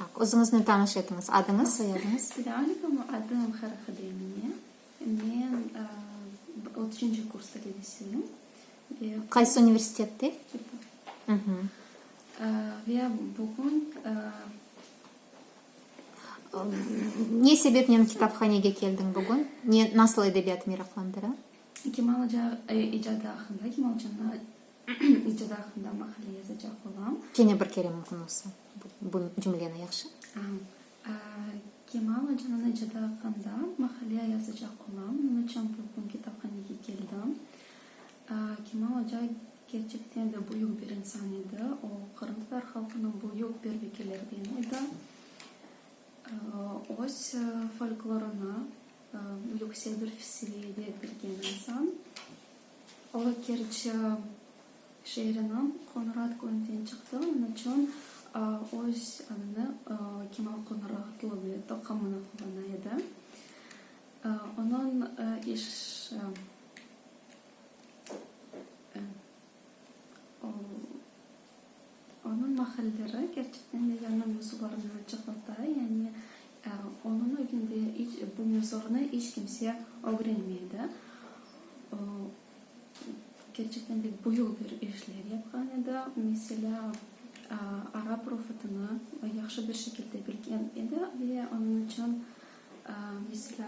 Tak, özüñizni tanış etiñiz, adıñız, soyadıñız? Selamünaleyküm, adım Haraxade Emine. Men otuzuncu kurs talebesiyim. Qaysı universitette? Mhmm. Ve bugün Ne sebepnen kitaphanege keldiñ bugün? Ne, nasıl edebiyat meraqlandıra? Kemal ağa icadı aqqında, Kemal canlı. İcad aqqında maqale yazacaq olam. Kene bir kere mümkün olsa bu cümleni, yahşı? Kemal ocanıñ icadı aqqında maqale yazacaq olam. Nıñıçün bugün kitaphanege keldim? Kemal oca kerçekten de büyük bir insan edi. O, qırımtatar halqınıñ büyük bir vekillerinden edi. Öz folklorını büyük sevir-seviyede bilgen insan. O, Kerçi şeeriniñ Qoñurat köyünden çıqtı, onıçün öz adını Kemal Qoñuratlı ve toqımını qullana edi. Onıñ işi o. Onıñ mahalleri kerçekten de yanı mezornı açıqlata, yani onıñ evinde iç bu mezornı iç kimse ögrenmedi. O, kerçekten de büyük bir işler yapqan edi. Meselâ, arap ruhutını yahşı bir şekilde bilgen edi ve onıñ içün, meselâ,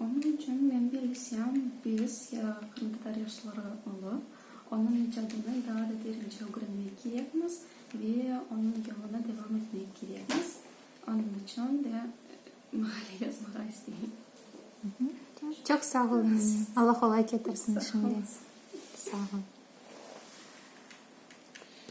Onıñ içün men belgisem, biz, ya qırımtatar yaşları olıp, onıñ icadını daa da derince ögrenmek kerekmiz ve onıñ yoluna devam etmek kerekmiz. Onıñ içün de maqale yazmağa isteyim. Çoq sağ ol, Emine. Alla qolay ketirsin işiñde. Sağ ol.